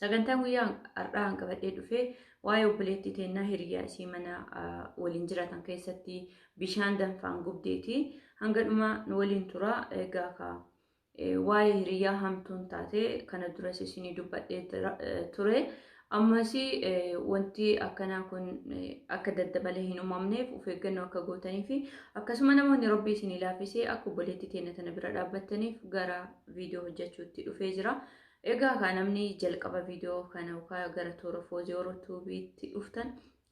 Sagantaan guyyaa har'aa an qabadhee dhufe waa'ee obboleettii teennaa hiriyaa isii mana waliin jiraatan keessatti bishaan danfaan gubdeeti. Hanga dhumaa nu waliin tura egaa ka waa'ee hiriyaa hamtuun taate kana duras isinii dubbadhee ture. Ammas wanti akkanaa kun akka daddabalee hin uumamneef of eeggannoo akka gootanii fi akkasuma namoonni rabbii isinii laafisee akka obboleettii teenna tana bira dhaabbattaniif gara viidiyoo hojjechuutti dhufee jira. Egaa kaa namni jalqaba viidiyoo kana yookaan gara toora foozii oro tuubiitti dhuftan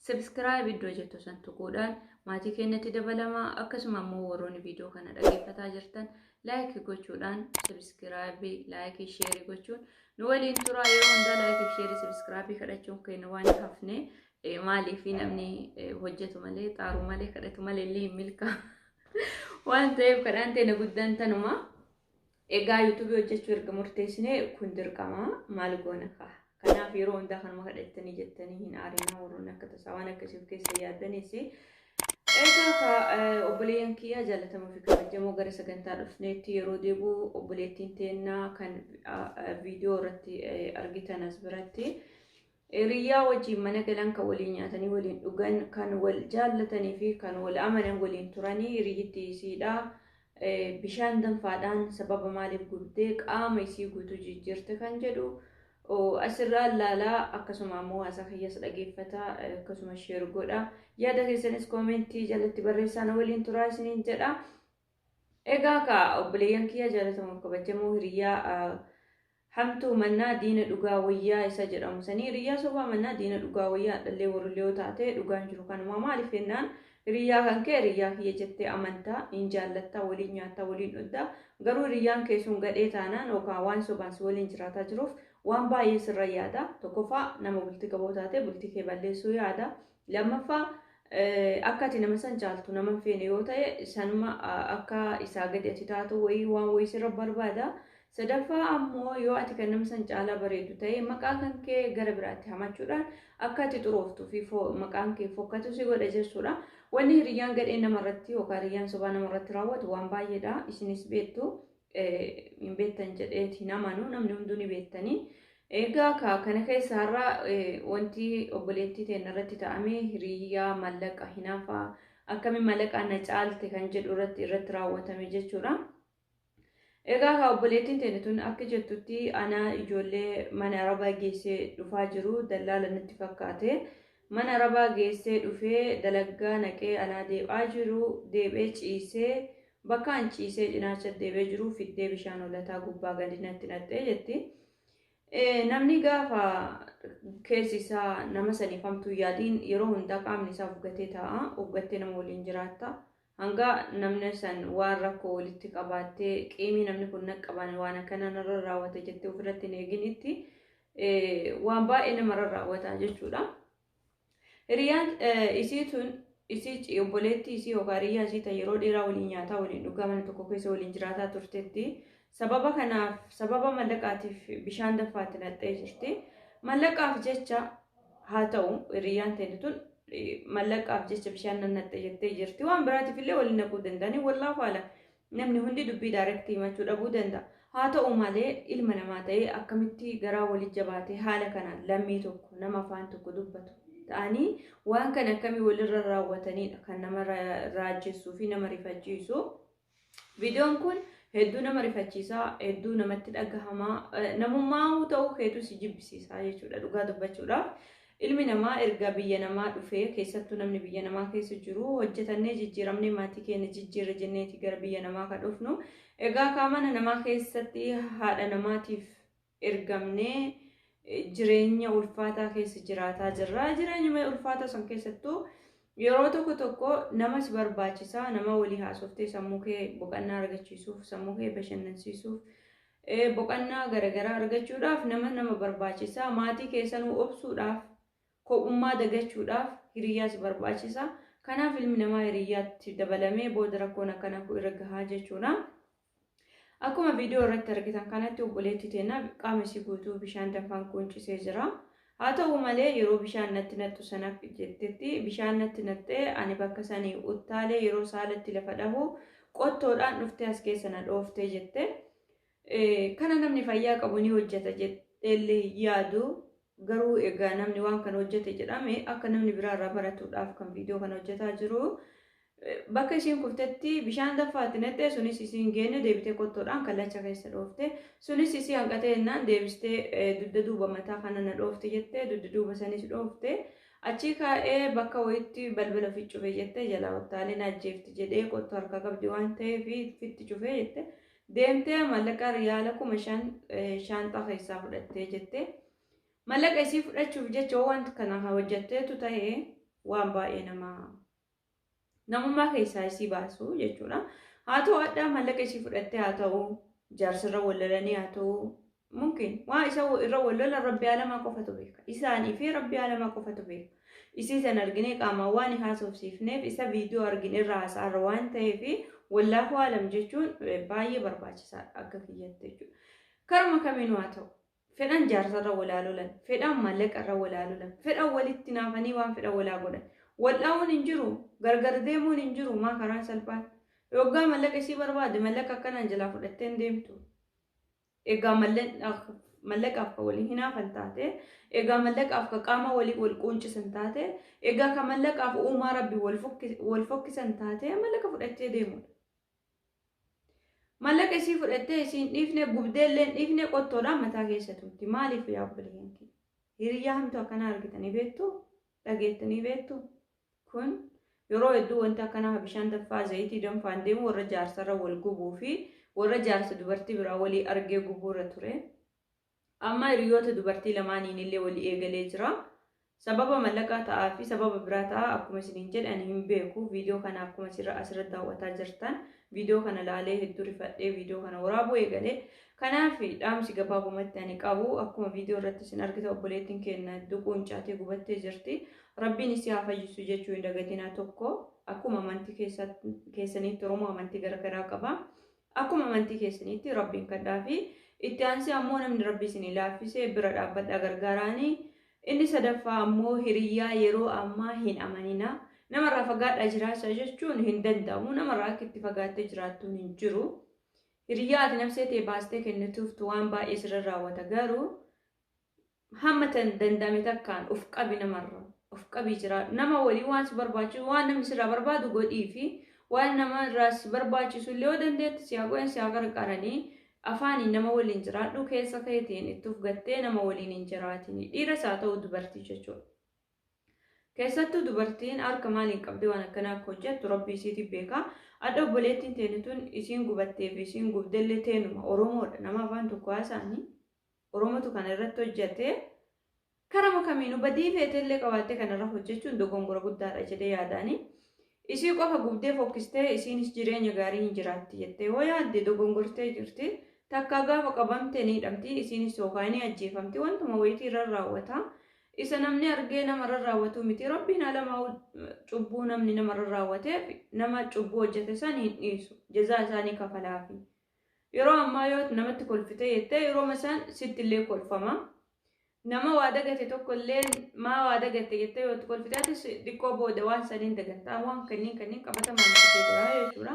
sabiskiraayib iddoo jettu san tuquudhaan maatii keenyatti dabalamaa akkasuma immoo warroonni viidiyoo kana dhaggeeffataa jirtan laayik gochuudhaan sabiskiraayibii laayikii sheerii gochuun nu waliin turaa yeroo hundaa laayikii sheerii sabiskiraayibii kadhachuun keenya waan hin hafne maaliif namni hojjetu malee xaaruu malee kadhatu malee illee hin milkaa waan ta'eef kadhaan teenya guddaan tanuma. Egaa YouTube hojjechuu erga murteessinee kun dirqama maal goona kaa. Kanaaf yeroo hundaa kanuma kadhattanii jettanii hin aarinaa warroonni akka tasaa waan akkasii of keessa yaaddanis. Egaa kaa obboleeyyan kiyyaa jaalatamoo fi kabajamoo gara sagantaa dhufneetti yeroo deebi'u obboleettiin teennaa kan viidiyoo irratti argitan as biratti. Hiriyyaa wajjiin mana galan, kan waliin nyaatanii waliin dhugan, kan wal jaallatanii fi kan wal amanan waliin turanii hiriyyitti isiidha. Bishaan danfaadhaan sababa maaliif gubdee qaama isii guutuu jijjiirte kan jedhu asirraa laalaa akkasuma ammoo haasaa kiyyas dhageeffata akkasuma sheer godha. Yaada keessanis koomentii jalatti barreessaa na waliin turaa isiniin jedha. Egaa kaa obboleeyyan kiyya jaalatamuuf kabajamoo hiriyyaa hamtuu mannaa diina dhugaa wayyaa isa jedhamu sanii hiriyyaa sobaa mannaa diina dhugaa wayyaa dhallee warrillee yoo taate dhugaan jiru kanumaa maaliif jennaan hiriyyaa kan kee hiriyyaa kiyya jettee amantaa hin jaallattaa waliin nyaattaa waliin dhugdaa garuu hiriyyaan kee sun gadhee taanaan yookaan waan sobaan si waliin jiraataa jiruuf waan baay'ee sirra yaada tokkoffaa nama bultii qaboo taate bultii kee balleessuu yaada Lammaffaa akka ati nama san caaltu nama hin feene yoo ta'e sanuma akka isaa gadi ati taatu wayii waan wayii sirra barbaada. Sadaffaa ammoo yoo ati kan nama san caalaa bareedu ta'e maqaa kan kee gara biraatti hamachuudhaan akka ati xurooftuu fi maqaan kee fokkatu si godha jechuudha. Wanni hiriyyaan gadhee namarratti yookaan hiriyyaan sobaa namarratti raawwatu waan baay'eedha isinis beektu. hin beektan jedheeti hin amanu namni hunduu ni beektanii. Egaa ka- kana keessa har'a eh, wanti obboleettii teenya irratti ta'ame hiriyaa mallaqa hinafaa akkamiin mallaqaan na caalte kan jedhu irratti irratti raawwatame jechuudha. Egaa ka obboleettiin teenya tun akka jettutti ana ijoollee mana arabaa geessee dhufaa jiru dallaala natti fakkaate Mana arabaa geessee dhufee dalaggaa naqee alaa deeb'aa jiru deeb'ee ciisee bakka an ciisee cinaacha deeb'ee jiru fiddee bishaan hollataa gubbaa gadi natti naqxee jetti. Namni gaafa keessi isaa nama saniif hamtuu yaadiin yeroo hundaa qaamni isaa ufgatee taa'a, ufgattee nama waliin jiraatta. Hanga namni san waan rakkoo walitti qabaattee qiimii namni kun naqqabaan waan akkana narra raawwate jettee ofirratti hin eeginitti waan baay'ee namarra raawwata jechuudha. Hiriyaan isii tun isii obboleettii isii yookaan hiriyyaa isii ta'e yeroo dheeraa waliin nyaataa waliin dhugaa mana tokko keessa waliin jiraataa turtetti sababa kanaaf sababa mallaqaatiif bishaan daffaatti naqxee jirti. Mallaqaaf jecha Haa ta'u hiriyyaan teenya tun mallaqaaf jecha bishaan nan naqxe jettee jirti. Waan biraatiif illee waliin naquu danda'anii wallaahu alam. Namni hundi dubbii daarektii himachuu dhabuu danda'a. Haa ta'u malee ilma namaa ta'ee akkamitti garaa walii jabaatee haala kanaan lammii tokko nama afaan tokko dubbatu ta'anii waan kana akkamii walirra raawwatanidha kan nama raajessuu fi nama rifachiisu. Viidiyoon kun hedduu nama rifachiisa, hedduu namatti dhagahama, namummaa ta'uu keetu si jibbisiisa jechuudha dhugaa dubbachuudhaaf. Ilmi namaa erga biyya namaa dhufee keessattuu namni biyya namaa keessa jiru hojjetannee jijjiiramnee maatii keenya jijjiirra jenneeti gara biyya namaa kan dhufnu. Egaa kaa mana namaa keessatti haadha namaatiif ergamnee jireenya ulfaataa keessa jiraataa jirra. Jireenyuma ulfaataa san keessattuu yeroo tokko tokko nama si barbaachisaa nama walii haasoftee sammuu kee boqannaa argachiisuuf sammuu kee bashannansiisuuf eh, boqannaa garaagaraa argachuudhaaf nama nama barbaachisaa maatii keessanuu obsuudhaaf kophummaa dagachuudhaaf hiriyyaa si barbaachisaa kanaaf ilmi namaa hiriyyaatti dabalamee booda rakkoon akkana kun irra gahaa jechuudha. Akkuma viidiyoo irratti argitan kanatti obboleetti teenna qaama isii guutuu bishaan danfaan quuncisee jira. Haa ta'u malee yeroo bishaan natti naqxu sana jettetti bishaan natti naqxee ani bakka sanii uttaalee yeroo saalatti lafa dhahu qottoodhaan dhuftee as keessa na dhooftee jette. Kana namni fayyaa qabu ni hojjeta jedheellee yaadu Garuu egaa namni waan kana hojjete jedhame akka namni biraa irraa baratuudhaaf kan viidiyoo kana hojjetaa jiru. Bakka isiin kuftetti bishaan daffaatti naqxee sunis isiin geenne deebitee qottoodhaan kallacha keessa dhoofte. Sunis isii hanqatee jennaan deebistee dugda duuba mataa kana na dhoofte jettee dugda duuba sanis dhoofte. Achii kaa'ee bakka wayiitti balbala ofi cufe jette jalaa uttaalee na ajjeefti jedhee qottoo harkaa qabdi waan ta'eef fitti cufee jette. Deemtee mallaqa riyaala kuma shan shaanxaa keessaa fudhattee jette. Mallaqa isii fudhachuuf jecha yoo wanta kana hojjatteetu ta'e waan baay'ee nama namummaa keessaa isii baasu jechuudha. Haa ta'u addaa mallaqa isii fudhattee haa ta'u jaarsirra wallalanii haa ta'u mumkin waa isa irra wal lolan rabbi alamaa qofatu beeka isaanii fi rabbi alamaa qofatu beeka isii san arginee qaamaan waan haasofsiifneef isa viidiyoo argin irra haasa'arra waan ta'eef wallaahu alam jechuun baay'ee barbaachisaadha akka kiyyatti jechuudha karuma kamiinuu haa ta'u fedhan jaarsarra walaa lolan fedhan maallaqarra walaa lolan fedhan walitti naafanii waan fedhan walaa godhan wal'aa'uun hin jiru gargar deemuun hin jiru maa karaan salphaan yoggaa mallaqa isii barbaade mallaqa akkanaan jalaa fudhatteen deemtu Egaa mallaqaaf ka wali hinaafan taate, egaa mallaqaaf ka qaama wali wal quuncisan taate, egaa ka mallaqaaf uumaa rabbi wal fokkisan taate mallaqa fudhattee deemudha. Mallaqa isii fudhattee isiin dhiifne gubdee illeen dhiifne qottoodhaan mataa keessa tuutti. Maaliif yaa obboleeyyan kiyya? Hiriyyaa hamtuu akkanaa argitanii beektuu? Dhageettanii beektuu? Kun yeroo hedduu wanti akkanaa ka bishaan danfaa zayitii danfaan deemu warra jaarsarra wal gubuu fi warra jaarsa dubartii biraa walii argee gubuurra ture. Amma hiriyoota dubartii lamaaniinillee wali eegalee jira. Sababa mallaqaa ta'aa fi sababa biraa ta'aa akkuma isiniin jedhe ani hin beeku. Viidiyoo kana akkuma asirra asirra daawwataa jirtan viidiyoo kana laalee hedduu rifadhee viidiyoo kana waraabuu eegale. Kanaaf dhaamsi gabaabumatti ani qabu akkuma viidiyoo irratti isin argita obboleettiin keenya duquun caatee gubattee jirti. Rabbiin issi haa fayyisu jechuu hin dagatina tokko akkuma amanti keessanitti oromoo amanti garagaraa qaba akkuma amanti keessanitti rabbiin kadhaa fi itti aansi ammoo namni rabbi isin ilaaffise bira dhaabbadha gargaaraani inni sadaffaa ammoo hiriyyaa yeroo ammaa hin amanina namarraa fagaadha jiraachaa jechuun hin danda'amu namarraa akka itti fagaattee jiraattuun hin jiru hiriyyaa ati nafsee tee baastee kennituuftu waan baay'ee sirra raawwata garuu Hamma tan danda'ame takkaan of qabi namarra. Of qabii jiraadhu. Nama waliin waan si barbaachisu, waan namni sirraa barbaadu godhiifi. Waan nama irraa si barbaachisu illee yoo dandeetti si haa godhan, si haa qarqaranii. Afaaniin nama waliin jiraadhu, keessa keetiin itti of gattee nama waliin hin jiraatini. Dhiiras haa ta'u dubartii jechuudha. Keessattuu dubartiin harka maaliin qabdee waan akkanaa akka hojjettu rabbi isiitii beeka. Adda obboleettiin teenu tun isiin gubattee fi isiin gubdellee teenuma Oromoodha. Nama afaan tokko haasaanii. Oromotu kana irratti hojjate. Karama kamiinuu badii feetee illee qabaattee kanarra hojjechuun dogongora guddaadha jedhee yaadaani. Isii qofa gubdee fokkistee isiinis jireenya gaarii hin jiraatti jettee yoo yaadde dogongortee jirti. Takkaa gaafa qabamte ni hidhamti, isiinis yookaan ni ajjeefamti, wantuma wayitii irra raawwata. Isa namni argee nama irra raawwatuu miti. Rabbiin alamaa cubbuu namni nama irra raawwateef nama cubbuu hojjate san hin dhiisu. Jazaa isaa ni kafalaafi. Yeroo ammaa yoo namatti kolfite jettee yerooma san sitti illee kolfama. Nama waa dagate tokko illee maa waa dagatte jettee yoo itti kolfite atis xiqqoo booda waan saniin dagatta. Waan kanneen kanneen qabatamaan argitee jira jechuudha.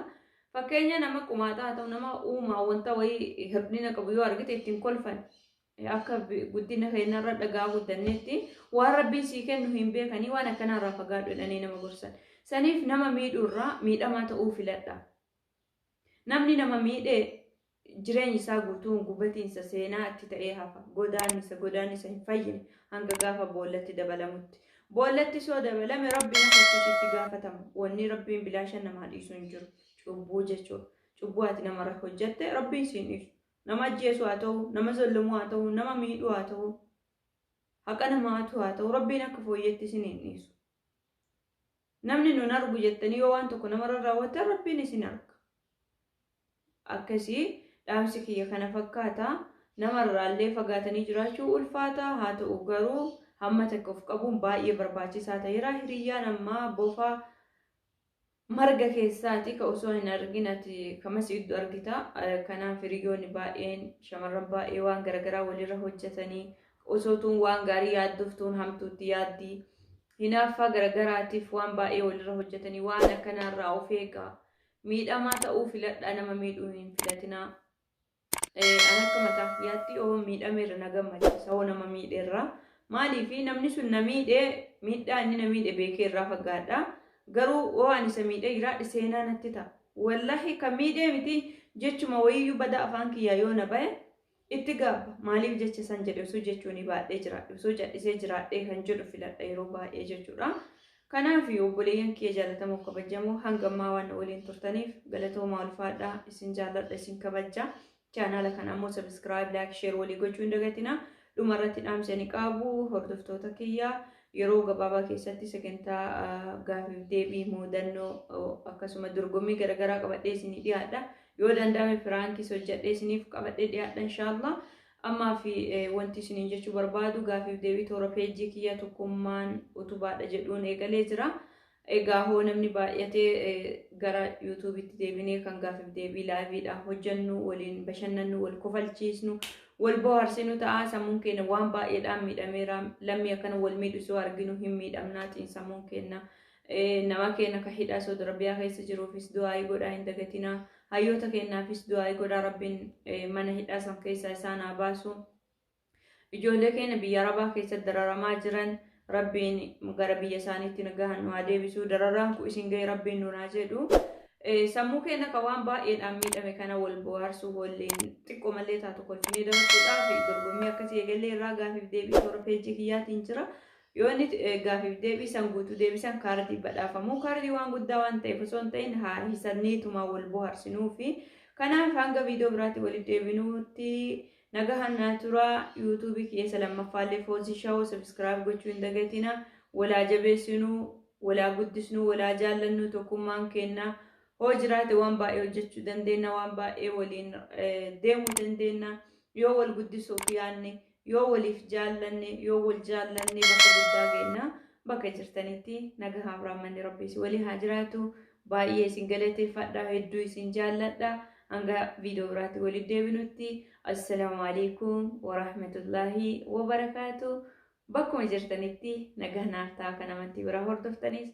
Fakkeenya nama qumaaxaa haa ta'u nama uumaa wanta wayii hir'ina qabu yoo argite ittiin kolfan akka guddina keenyarra dhagaa guddanneetti waan rabbiin sii kennu hin beekanii waan akkanaarraa fagaadhu jedhanii nama gorsan. Saniif nama miidhuurraa miidhamaa ta'uu filadha. Namni nama miidhe jireenyi isaa guutuun gubatiinsa seenaa itti ta'ee hafa. Godaannisa, godaannisa hin fayyine hanga gaafa boollatti dabalamutti. Boollattis yoo dabalame Rabbi nama achitti itti gaafatama. Wanni Rabbiin bilaashan namaa dhiisu hin jiru. Cubbuu jechuudha. Cubbuu ati namarra hojjatte Rabbiin siin dhiisu. Nama ajjeesuu haa ta'u, nama zollamuu haa ta'u, nama miidhuu haa ta'u, haqa namaa hatuu haa ta'u Rabbiin akka fooyyeetti isin hin dhiisu. Namni nun argu jettanii yoo waan tokko namarra raawwattan Rabbiin isin arga. Akkasii dhaamsi kiyya kana fakkaata. Namarraallee fagaatanii jiraachuu ulfaata haa ta'u garuu hamma takka of qabuun baay'ee barbaachisaa ta'eera. Hiriyyaan ammaa bofa marga keessaati ka osoo hin argin ati kamas iddu argita. Kanaaf hiriyyoonni baay'een shamarran baay'ee waan garaagaraa walirra hojjetanii osoo tuun waan gaarii yaaddoftuun hamtuutti yaaddii. Hinaaffaa garagaraatiif waan baay'ee walirra hojjatanii waan akkanaa irraa of eegaa. Miidhamaa ta'uu filadhaa nama miidhuu hin filatinaa. An akka mataa kiyyaatti yoo miidhameerra na gammachiisa yoo nama miidheerra. Maaliif namni sun na miidhe miidhaa inni na miidhe beekee irraa fagaadha. Garuu yoo ani isa miidhee jiraadhe seenaa natti ta'a. Wallahi kan miidhee miti jechuma wayiyyuu badaa afaan kiyyaa yoo na bahe Itti gaabba. Maaliif jecha san jedhe osoo jechuunii baadhee jiraadhe osoo cadhisee jiraadhee kan jedhu filadha yeroo baay'ee jechuudha. Kanaaf obboleeyyan kiyya jaalatamoo kabajamoo hanga ammaa waan na waliin turtaniif galatoomaa ulfaadha isin jaalladha isin kabajja. Chaanaala kana ammoo sabiskiraayib laayik sheer walii gochuu hin dagatina. Dhuma irratti dhaamsa ni qaabu hordoftoota kiyya yeroo gabaabaa keessatti sagantaa gaafiif deebii muudannoo akkasuma dorgommii garaagaraa qabadhee isinii dhiyaadha. Yoo danda'ame piraankiis hojjadhee isiniif qabadhee dhiyaadha inshaallah. Ammaa fi wanti isiniin jechuu barbaadu gaafiif deebii toora peejii kiyya tokkummaan utubaadha jedhuun eegalee jira. Egaa hoo namni baay'atee gara yuutuubitti deebinee kan gaafiif deebii laayiviidhaan hojjannu waliin bashannannu wal kofalchiisnu wal bohaarsinu ta'a sammuun keenya waan baay'eedhaan miidhameera lammii akkana wal miidhu soo arginu hin miidhamnaa xiinsammuun keenya Nama keenya ka hidhaa Saudi Arabiyaa keessa jiruufis du'aa'ii godhaa hin dagatinaa. Hayyoota keenyaafis du'aa'ii godhaa Rabbiin mana hidhaa san keessaa isaan haa baasu. Ijoollee keenya biyya Arabaa keessatti dararamaa jiran Rabbiin gara biyya isaaniitti nagahan nu haa deebisu. Dararaan kun isin ga'e Rabbiin nuun haa jedhu. Sammuu keenya ka waan baay'eedhaan miidhame kana wal bohaarsuu hoolleen xiqqoo malee taatu kolfinee dabarsuudhaaf dorgommii akkasii eegallee irraa gaafiif deebii toora peejii kiyyaatiin jira. Yoo inni gaafiif deebii san guutuu deebisan kaardii badhaafamu. Kaardii waan guddaa waan ta'eef osoo hin ta'in haa hisanneetuma wal bohaarsinuufi. Kanaaf hanga viidiyoo biraatti walitti deebinuutti nagahan naa tura. Yuutuubii kiyya isa lammaffaallee Foozii Shaawoo sabiskiraayib gochuu hin dagatina. Walaa jabeessinuu, walaa guddisnuu, walaa jaallannuu tokkummaan keenna. Hoo jiraate waan baay'ee hojjechuu dandeenna, waan baay'ee waliin deemuu dandeenna. Yoo wal guddisuuf yaanne Yoo waliif jaallanne, yoo wal jaallanne bakka guddaa geenna. Bakka jirtanitti nagahaaf rahmanni Rabbii isin waliin haa jiraatu. Baay'ee isin galateeffadha, hedduu isin jaalladha. Hanga viidiyoo biraatti waliif deebinutti assalaamu alaikum warahmatullaahi wabarakaatu. Bakkuma jirtanitti nagaa naaf ta'a kan amantii biraa hordoftanis.